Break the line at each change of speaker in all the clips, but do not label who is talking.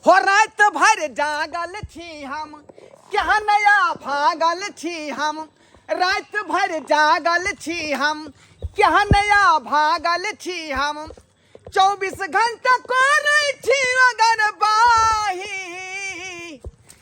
हो रात भर जागल छी हम क्या नया भागल छी हम रात भर जागल छी हम क्या नया भागल छी हम चौबीस घंटा कोरै छी अगर बाही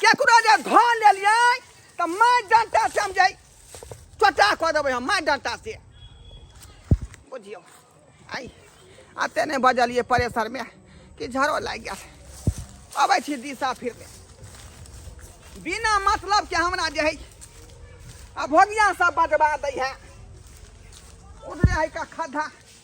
केकरो जे धऽ लेलियै तऽ माय डंटा से हम जाय चोटा कऽ देबै हम माय डंटा से बुझियौ आइ आते नहि बजलियै परेशरमे कि झरो लागि गेल अबै छी दिशा फिरमे बिना मतलब के हमरा जे है आ भोगिया सब बजबा दै है उधरे है का खद्धा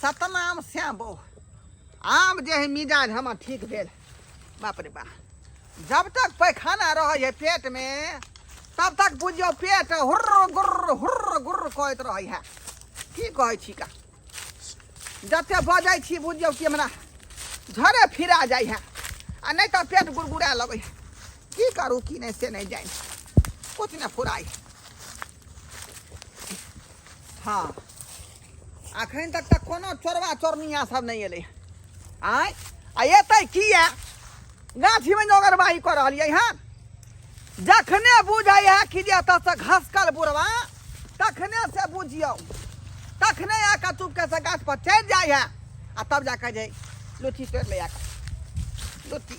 सतनाम श्याम बो आम जे है मिजाज हमर ठीक भेल बाप रे बा जब तक पैखाना रहे है पेट में तब तक बुझियो पेट हुर्र गुर्र हुर्र गुर्र कहत रहे है की कहै छी का जते बजै छी बुझियो कि हमरा झरे फिरा जाइ है आ नहीं तो पेट गुड़गुड़ा लगे है की करू की नहीं से नहीं जाए कुछ नहीं फुराई हँ अखन तक तऽ कोनो चोरबा चोरनिया सब नहि एलै आँय आ एतै किया गाछीमे जे ओगरबाही कऽ रहलियै हँ जखने बुझै है कि जे एतऽसँ घसकल बुढ़वा तखने से बुझियौ तखने आके चुपके से गाछ पर चढ़ि जाइ है आ तब जाके जे लुच्ची तोड़ि लै आके लुच्ची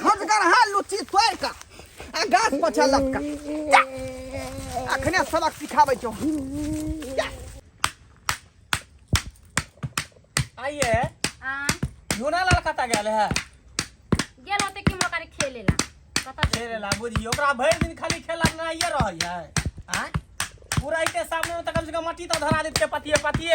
खजगर हा लुच्ची तोड़ का आ गाछ पछा लपका जा। अखने सबक सिखाबै छौ
आइए हाँ
झूना लाल
कतऽ गेल है गेल
होते कि मोका रे खेले ला कतऽ से खेले ला बुझी ओकरा
भरि दिन खाली खेला में आइए रहै है आँय पूरा के सामने में तऽ कम से कम मट्टी तऽ धरा देते पतिए पतिए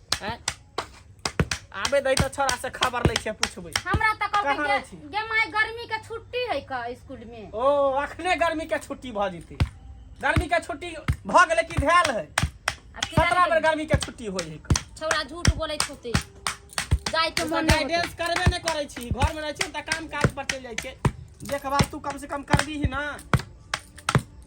हैं? आबे दई तो छोरा से खबर लै छियै पूछबै हमरा तऽ कहाँ कहलकै रहै
छी? गे- गे माय गर्मी
के
छुट्टी है का स्कूल में ओ अखने गर्मी
के छुट्टी भऽ जेतै गर्मी के छुट्टी भऽ गेलै कि धैल है आ फिर सत्रह बेर आबि
गर्मी के
छुट्टी होइ है गेल। छौड़ा झूठ बोलै
छुट्टी जाय के मन नहि होतै। गाइडेंस करबे नहि करै
छी घर में रहै छी तऽ काम काज पर चलि जाइ छै देखभाल तू कम से कम करबी ही ना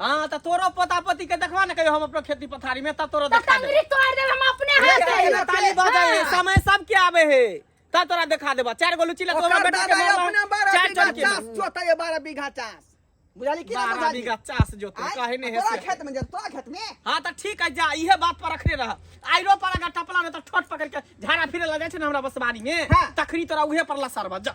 हाँ
त तोरो पोता पोती के देखवा न कहियो हम अपना खेती पथारी में त तोरो त देखा दे टंगरी तोड़ देब
हम
अपने अरे
हाथ काहे से ना ताली बजे है समय
सब के आवे है त तोरा देखा देबा चार गो लुची लग ओकर हमर बेटा के दादा मारबा अपने बारह चार बीघा
चल के
चास
जोता
ये
बारह
बीघा
चास बुझाली कि ना बारह बुझाली बीघा चास जोते
आय,
काहे
ने तोरा है खेत में जब तोरा खेत
में हाँ त ठीक है जा
इहे बात पर रखने रह आइरो पर अगर टपला में त ठोट पकड़ के झाड़ा फिरे लगे छै न हमरा बसवारी में हाँ। तखनी तोरा उहे
पर
लसरबा जा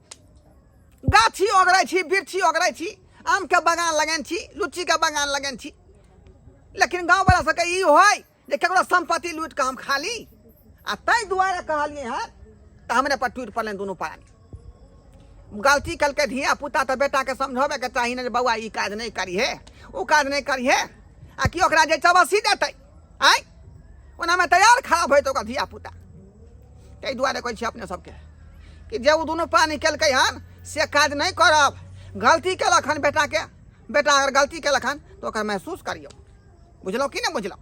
गाछी ओगरै छी वृक्षी ओगरै छी आमके बगान लगेने छी लुच्चीके बगान लगेने छी लेकिन गाँववला सबके ई होइ जे ककरो सम्पत्ति लूटि कऽ हम खा ली आ ताहि दुआरे कहलियै हँ तऽ हमरे पर टूटि पड़लनि दुनू प्राणी गलती कलकै धिया पुता तऽ बेटाके समझबेके चाही ने जे बौआ ई काज नहि करिहे ओ काज नहि करिहे आ कि ओकरा जे चबसी देतै आँय ओनामे तैयार खराब होइत ओकर धिया पुता ताहि दुआरे कहै छी अपने सबके कि जे ओ दुनू पानी केलकै हन से काज नहि करब गलती केलक हन बेटाके बेटा अगर गलती केलक हन तऽ ओकर महसूस करियौ बुझलहुँ कि नहि बुझलहुँ